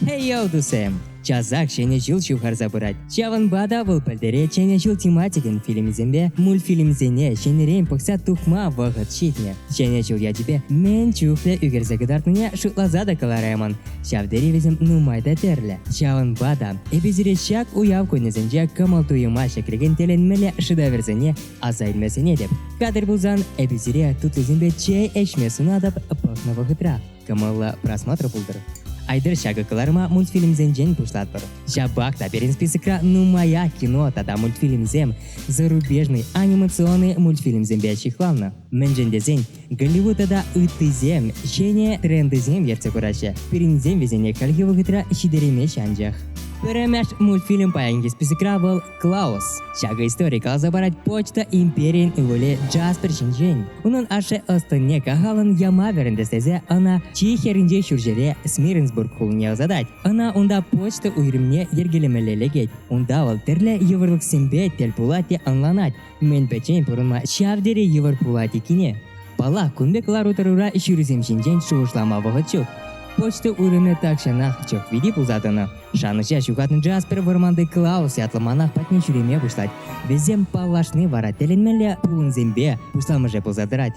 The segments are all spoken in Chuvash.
Эй йӑлтусем! Часах Ҫӗнӗ ҫул ҫывхарса пырать. Ҫавӑнпа та вӑл пӗлтерет Ҫӗнӗ ҫул тематикин фильмӗсемпе мультфильмсене ҫӗнӗрен пӑхса тухма вӑхӑт ҫитнӗ. Ҫӗнӗ ҫул ячӗпе мӗн чухлӗ ӳкерсе кӑтартнине шутласа та кӑлараймӑн. Ҫав тери вӗсем нумай та тӗрлӗ. Ҫавӑнпа та эпӗ сире ҫак уяв кунӗсенче кӑмӑл-туйӑма ҫӗклекен тӗлӗнмелле шыдаверсене аса илме сӗнетӗп. Катер пулсан эпӗ сире тутлисемпе чей ӗҫме сунатӑп пӑхнӑ вӑхӑтра. кӑмӑллӑ просмотр пултӑр. Айтӑр ҫакӑ кӑларӑма мультфильмсенчен пуҫлатпӑр. Ҫапах та пирӗн списокра нумаях кино тата мультфильмсем, зарубежный анимационный мультфильмсемпе ҫыхланнӑ. Мӗншӗн тесен Голливуд тата ыттисем ҫӗнӗ трендсем ертсе пыраҫҫӗ, пирӗнсем вӗсене хальхи вӑхӑтра ҫитереймеҫҫӗ анчах. Пӗрремеш мультфильм паянхи списокра вӑл Клаус. Ҫакӑ истори каласа парать почта империйӗн ывӑлӗ Джаспер ҫинчен. Унӑн ашшӗ ӑс-тӑнне кахалӑн яма вӗрентес тесе ӑна чи хӗрринчи ҫурҫӗре Смиренсбург хулине ӑсатать. Ӑна унта почта уйрӑмне йӗркелемелле лекет. Унта вӑл тӗрлӗ йывӑрлӑхсемпе тӗл пулать те ӑнланать, Мӗнпе тен пурӑнма ҫав тери йывӑр пулать иккене? Паллах, кун пек лару-тӑрура ҫырусем ҫинчен шухӑшлама вӑхӑт ҫук. Почта вырӑнӗ тахҫанах чӑхвити пулса тӑнӑ. Шанӑҫа ҫухатнӑ Джаспер вӑрманти Клаус ятлӑ манах патне ҫӳреме пуҫлать. Вӗсем паллашни вара тӗлӗнмелле пулӑмсемпе пуҫламӑшӗ пулса тӑрать.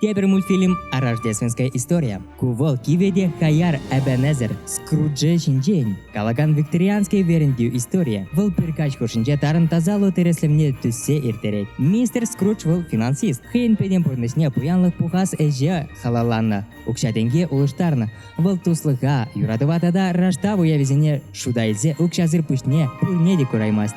Тепӗр мультфильм «Рождественская история». Ку вӑл кивӗ те хаяр Эбенезер Скруджи ҫинчен калакан викторианский вӗрентӳ историйӗ. Вӑл пӗркаҫ хушшинче тарӑн тасалу тӗрӗслӗмне тӳссе ирттерет. Мистер Скрудж вӑл финансист. Хӑйӗн пӗтӗм пурнӑҫне пуянлӑх пухас ӗҫе халалланӑ. Укҫа-тенке улӑштарнӑ. Вӑл туслӑха, юратӑва тата раштав уявӗсене шута илсе укҫасӑр пуҫне пурне те кураймасть.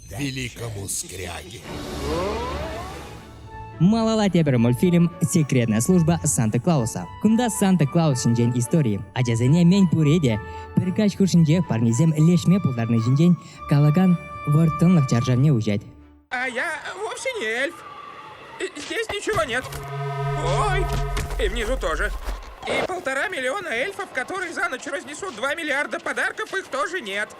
великому скряге. Малала тепӗр мультфильм «Секретная служба Санта-Клауса». Кунта Санта-Клаус ҫинчен истори. Ачасене мӗн пурре те пӗр каҫ хушшинчех парнесем леҫме пултарни ҫинчен калакан вӑрттӑнлӑх чаршавне уҫать. А я вовсе не эльф. Здесь ничего нет. Ой, и внизу тоже. И полтора миллиона эльфов, которые за ночь разнесут два миллиарда подарков, их тоже нет.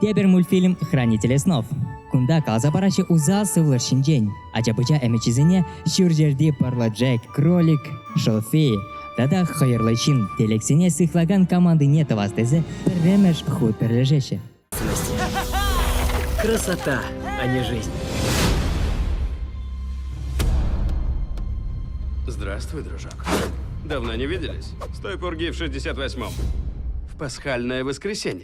Тепӗр мультфильм «Хранители снов». Кунта каласа параҫҫӗ усал сывлӑш ҫинчен. Ача-пӑча ӗмӗчӗсене ҫурҫӗрти пӑрлӑ Джек, кролик, Шофи тата хӑйӑрлӑ ҫын телексене сыхлакан командине тӑвас тесе пӗрремӗш хут пӗрлешеҫҫӗ. Красота, а не жизнь. Здравствуй, дружок. Давно не виделись? С той пурги в 68-м. В пасхальное воскресенье.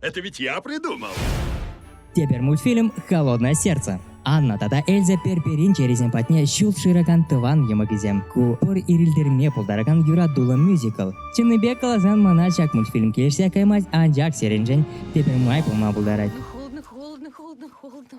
Это ведь я придумал. Тепер мультфильм «Холодное сердце». Анна тата Эльза Перперин чересен патне ҫул шыракан тӑван йӑмӑкӗсем. Ку пӑр ирӗлтерме пултаракан юратуллӑ мюзикл. Чӑннипе каласан мана ҫак мультфильм килӗшсе каймасть, анчах сериншӗн тепӗр май пулма пултарать. холодно, холодно, холодно, холодно.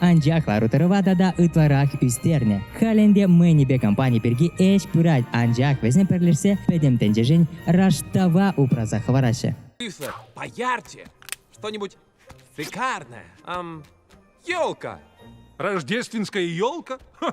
Анчах лару-тӑрӑва тата ытларах ӳстернӗ. Халь ӗнтӗ Мэнипе компани пирки ӗҫ пырать, анчах вӗсем пӗрлешсе пӗтӗм тӗнчешен раштава упраса хӑвараҫҫӗ. Слышно? Поярче! Что-нибудь шикарное. Ам, елка! Рождественская елка? Ха,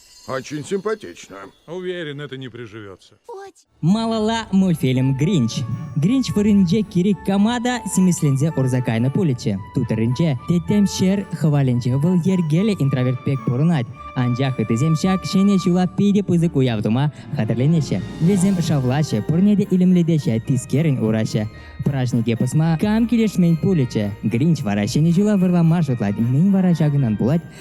Очень симпатично. Уверен, это не приживется. Малала мультфильм Гринч. Гринч вырӑнче Кирик Камада симӗсленсе урса кайнӑ пулӗччӗ. Тутӑрӗнче тӗттӗм ҫӗр хӑвалӗнче вӑл йӗркеллӗ интроверт пек пурӑнать. Анчах ыттисем ҫак ҫӗнӗ ҫула питӗ пысӑк уяв тума хатӗрленеҫҫӗ. Вӗсем шавлаҫҫӗ, пурне те илемлетеҫҫӗ, тискерӗн ураҫҫӗ. Праҫнике пӑсма кам килӗшмен пулӗччӗ. Гринч вара ҫӗнӗ ҫула вӑрлама шутлать. Мӗн вара ҫакӑнтан пулать?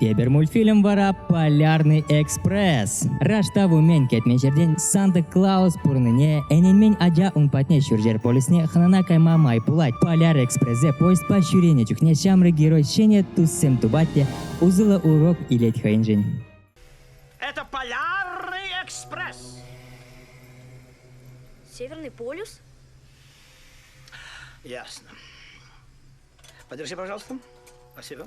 Тепӗр мультфильм вара «Полярный экспресс». Раштав умен кӗтмен ҫӗртен Санта-Клаус пурӑннине, ӗненмен ача ун патне ҫурҫӗр полюсне хӑнана кайма май пулать. Поляр экспрессе поездпа ҫӳренӗ чухне ҫамрӑк герой ҫӗнӗ туссем тупать те усӑллӑ урок илет хӑйӗншӗн. Это полярный экспресс. Северный полюс? Ясно. Подержи, пожалуйста. Спасибо.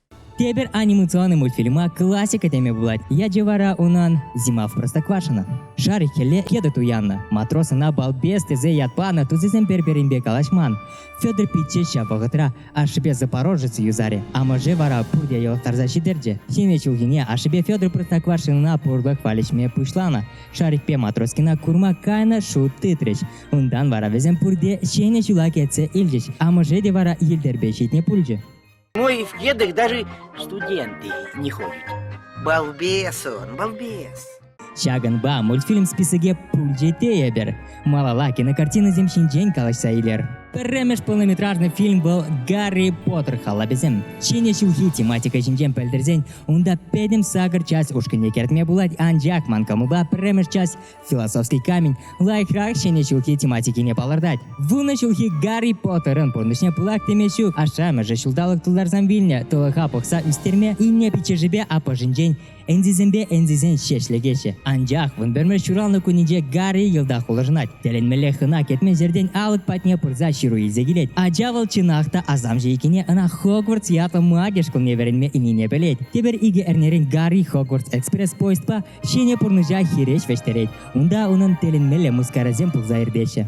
Тепӗр анимационный мультфильма классика теме пулать. Ячӗ вара унӑн «Зима в Простоквашино». Шар хӗлле кедр туяннӑ. Матрос ӑна балбес тесе ят панӑ тусӗсем пӗр-пӗринпе калаҫман. Федор пичче ҫав вӑхӑтра ашшӗпе Запорожец юсарӗ. Амӑшӗ вара пурте йӑлӑхтарса ҫитӗрчӗ. Ҫӗнӗ ҫулхине ашшӗпе Федор Простоквашинӑна пурлӑх валеҫме пуҫланӑ. Шарикпе Матроскина курма кайнӑ шут тытрӗҫ. Унтан вара вӗсем пурте ҫӗнӗ ҫула кӗтсе илчӗҫ. Амӑшӗ те вара йӗлтӗрпе ҫитнӗ пулчӗ. Моих дедок даже студенты не ходят. Балбес он, балбес. Ҫакӑнпа мультфильм списокӗ пуль те тейӗпӗр. Малала кинокартинӑсем ҫинчен калаҫса илер. Пӗрремӗш полнометражный фильм вӑл Гарри Поттер халапӗсем. Ҫӗнӗ ҫулхи тематика ҫинчен пӗлтерсен унта пӗтӗм сакӑр час ушкӑнне кӗртме пулать, анчах ман кӑмӑлпа пӗрремӗш час Философский камень лайӑхрах ҫӗнӗ ҫулхи тематикине палӑртать. Вунӑ ҫулхи Гарри Поттерӑн пурнӑҫне пылак теме ҫу, ашшӗ-амӑшӗ ҫулталӑк тултарсан вилнӗ, тӑлӑха пӑхса ӳстерме, инне пиччӗшӗпе аппӑшӗнчен ӗнсисемпе ӗнсисен ҫеҫ лекеҫҫӗ. Анчах вун пӗрмӗш ҫуралнӑ кунӗнче Гарри йӑлтах улшӑнать. Тӗлӗнмелле хӑна кӗтмен ҫӗртен алӑк патне пырса ҫыру илсе килет. Ача вӑл чӑнах та асамҫӑ иккенне ӑна Хогвартс ятлӑ мӑкӑш кунне вӗренме ӗнене пӗлет. Тепӗр икӗ эрнерен Гарри Хогвартс экспресс-поездпа Ҫӗнӗ пурнӑҫа хирӗҫ вӗҫтерет. Унта унӑн тӗлӗнмелле мыскарасем пулса иртеҫҫӗ.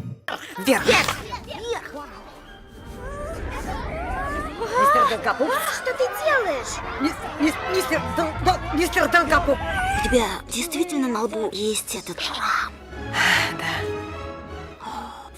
Мистер Долгопуп? Что ты делаешь? Мистер, мистер, Дол- Дол- мистер Долгопуп? У тебя действительно на лбу есть этот рам?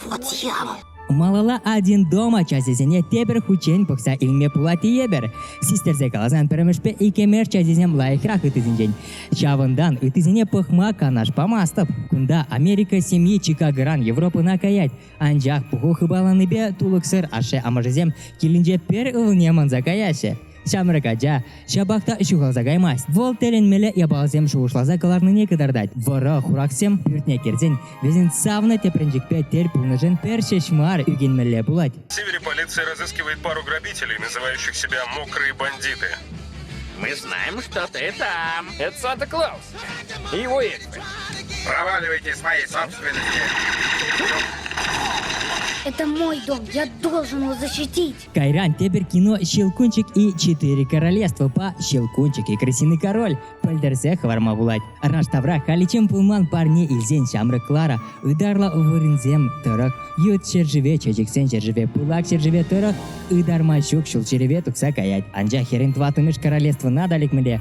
Вот я вот. Малала один дом ачасене тепӗр хутчен пӑхса илме пулать тейӗпӗр. Систерсе каласан пӗрмӗшпе иккӗмеш ачасем лайӑхрах ыттисенчен. Ҫавӑнтан ыттисене пӑхма канаш памастӑп. Кунта Америка семьи Чикагӑран Европӑна каять, анчах пуху хыпаланипе тулӑксӑр ашшӗ-амӑшӗсем килӗнче пӗр ывӑлне манса каяҫҫӗ. Ҫамрӑк ача ҫапах та ҫухалса каймасть. Вӑл тӗлӗнмелле япаласем шухӑшласа кӑларнине кӑтартать. Вӑрӑ хурахсем пӳртне кӗрсен вӗсен савнӑ тӗпренчӗкпе тӗл пулнишӗн пӗр ҫеҫ мар ӳкӗнмелле пулать. Севере полиция разыскивает пару грабителей, называющих себя мокрые бандиты. Мы знаем, что ты там. Это Санта Клаус. И его экспert. Проваливайте свои собственники. Это мой дом, я должен его защитить. Кайран тепӗр кино «Щелкунчик и четыре королевствопа Щелкунчик и крысиный король» пӗлтерсе хӑварма пулать. Раш тавра халиччен пулман парне илсен ҫамрӑк Клара ытарлӑ вырӑнсем тӑрӑх, ют ҫӗршыве, чечексен ҫӗршыве, пылак ҫӗршыве тӑрӑх ытарма ҫук ҫул ҫӗрӗпе тухса каять. Анчах хӗрӗн тӑваттӑмӗш королевствӑна та лекмелле.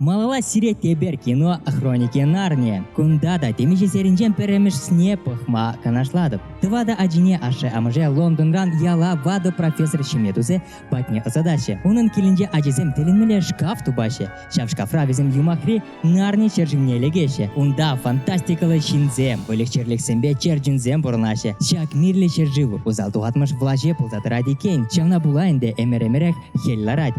Малалла сирет эпир кино Хроники Нарнии. Кунта та темиҫе серинчен пӗрремӗшсне пӑхма канашлатӑп. Тӑватӑ ачине ашшӗ-амӑшӗ Лондонран яла ватӑ профессор ҫиме тусе патне ӑсатаҫҫӗ. Унӑн килӗнче ачисем тӗлӗнмелле шкаф тупаҫҫӗ. Ҫав шкафра вӗсем юмахри Нарни ҫерҫине лекеҫҫӗ. Унта фантастикӑллӑ ҫынсем, выльӑх-чӗрлӗхсемпе черченсем пурӑнаҫҫӗ. Ҫак мирлӗ ҫӗршыв усал тухатмӑш влаҫе пулса тӑрать иккен. Ҫавна пула ӗнтӗ ӗмӗр-ӗмӗрех хӗл ларать.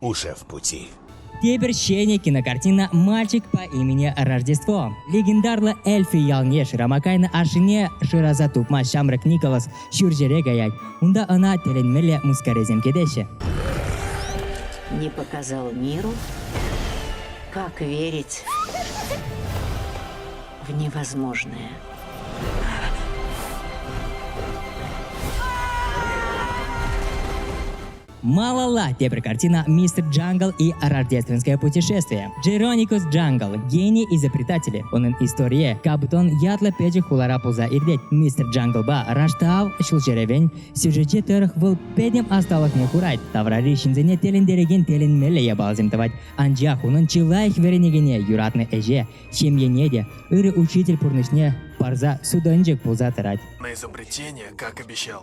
уже в пути. Тепӗр ҫӗнӗ кинокартина «Мальчик по имени Рождество». Легендарлӑ Эльфи ялне шырама кайнӑ ашшӗне шыраса тупма ҫамрӑк Николас ҫурҫӗре каять. Унта ӑна тӗлӗнмелле мыскаресем кӗтеҫҫӗ. Не показал миру, как верить в невозможное. Малала тепӗр картина Мистер Джангл и рождественское путешествие. Geronicus Jungle – гений изобретателей. Унӑн историйӗ Капутон ятлӑ пӗчӗк хулара пулса иртет. Мистер Джанглпа раштав ҫулҫӑрӗвен сюжетче тӑрӑх вӑл пӗтӗм ӑсталӑхне хурать, таврари ҫынсене тӗлӗнтерекен тӗлӗнмелле япаласем тӑвать. Анчах унӑн чи лайӑх вӗренекене юратнӑ ӗҫе, ҫемьене те, ырӑ учитель пурнӑҫне парса судӑнчӑк пулса тӑрать. На изобретение, как обещал.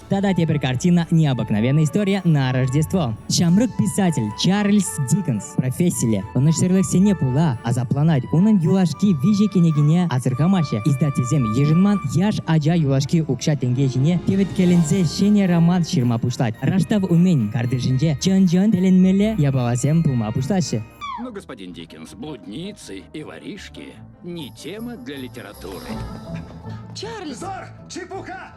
Тата тепӗр картина «Необыкновенная история на Рождество». Ҫамрӑк писатель Чарльз Диккенс профессилле ӑнӑҫсӑрлӑхсене пула асапланать. Унӑн юлашки виҫӗ кӗнекине асӑрхамаҫҫӗ. Издательсем йышӑнман яш ача юлашки укҫа-тенке ҫине теветкеленсе ҫӗнӗ роман ҫырма пуҫлать. Раштав умӗн картишӗнче чӑн-чӑн тӗлӗнмелле япаласем пулма пуҫлаҫҫӗ. Но, господин Диккенс, блудницы и воришки не тема для литературы. Чарльз! Визор! Чепуха!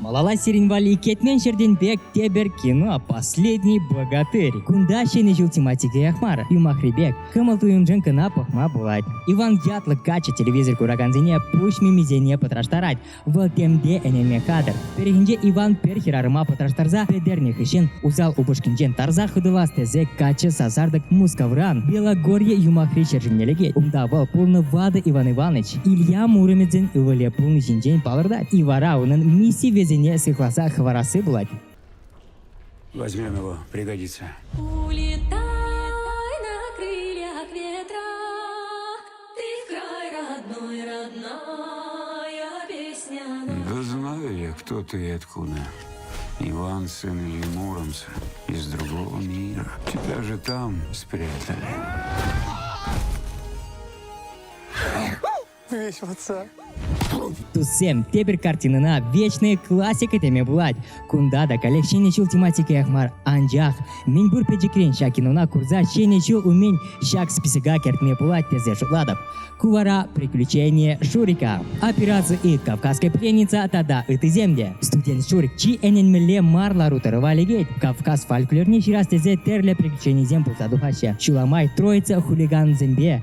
Малалла сирӗн валли кӗтмен ҫӗртен пек тепӗр кино «Последний богатырь». Кунта ҫӗнӗ ҫул тематикех мар, юмахри пек, кӑмӑл-туйӑмшӑн кӑна пӑхма пулать. Иван ятлӑ каччӑ телевизор куракансене пуҫ мимисене пӑтраштарать. Вӑл темпе ӗненме кадр. Пӗррехинче Иван пӗр хӗрарӑма пӑтраштарса пӗтернӗ хыҫҫӑн усал упӑшкинчен тарса хӑтӑлас тесе каччӑ сасартӑк Мускавран Белогорье юмахри ҫӗр ҫумне лекет. Унта вӑл пулнӑ ватӑ Иван Иванович. Илья Муромедин ывӑлӗ пулни ҫинчен палӑртать. И вара унӑн миссийӗсене сыхласа хӑварасси пулать. Возьми его, пригодится. Улетай на крыльях ветра, ты край родной, родная песня. Да знаю я, кто ты и откуда. Иван, сын Ильи Муромца, из другого мира. Тебя же там спрятали. Веҫлатса. Туссем, тепӗр картинӑна Вечные классика теме пулать. Кунта та каллех Ҫӗнӗ ҫул тематикиех мар, анчах мӗнпур пӗчӗкрен ҫак кинона курса Ҫӗнӗ ҫул умӗн ҫак списока кӗртме пулать тесе шутлатӑп. Ку вара «Приключения Шурика», «Операцию Ит», «Кавказская пленница» тата ыттисем те. Студент Шурик чи ӗненмелле мар лару-тӑрӑва лекет. Кавказ фольклорне ҫырас тесе тӗрлӗ приключенисем пулса тухаҫҫӗ. Ҫула май троица хулигансемпе,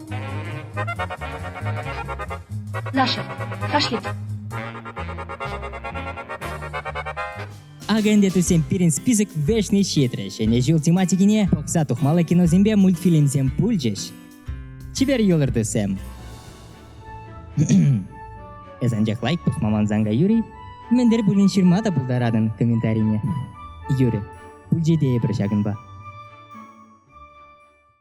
Наша, кашлет. Агентетусем пирӗн список вӗҫне ҫитрӗ. Ҫӗнӗ ҫул тематикине пӑхса тухмалли киносемпе мультфильмсем пулчӗҫ. Чипер юлӑртусем. Эс анчах лайк пӑхма мансан Юрий, мӗнтер пулин ҫырма та пултаратӑн комментарине. Юрӗ, пулчӗ тейӗпӗр ҫакӑнпа.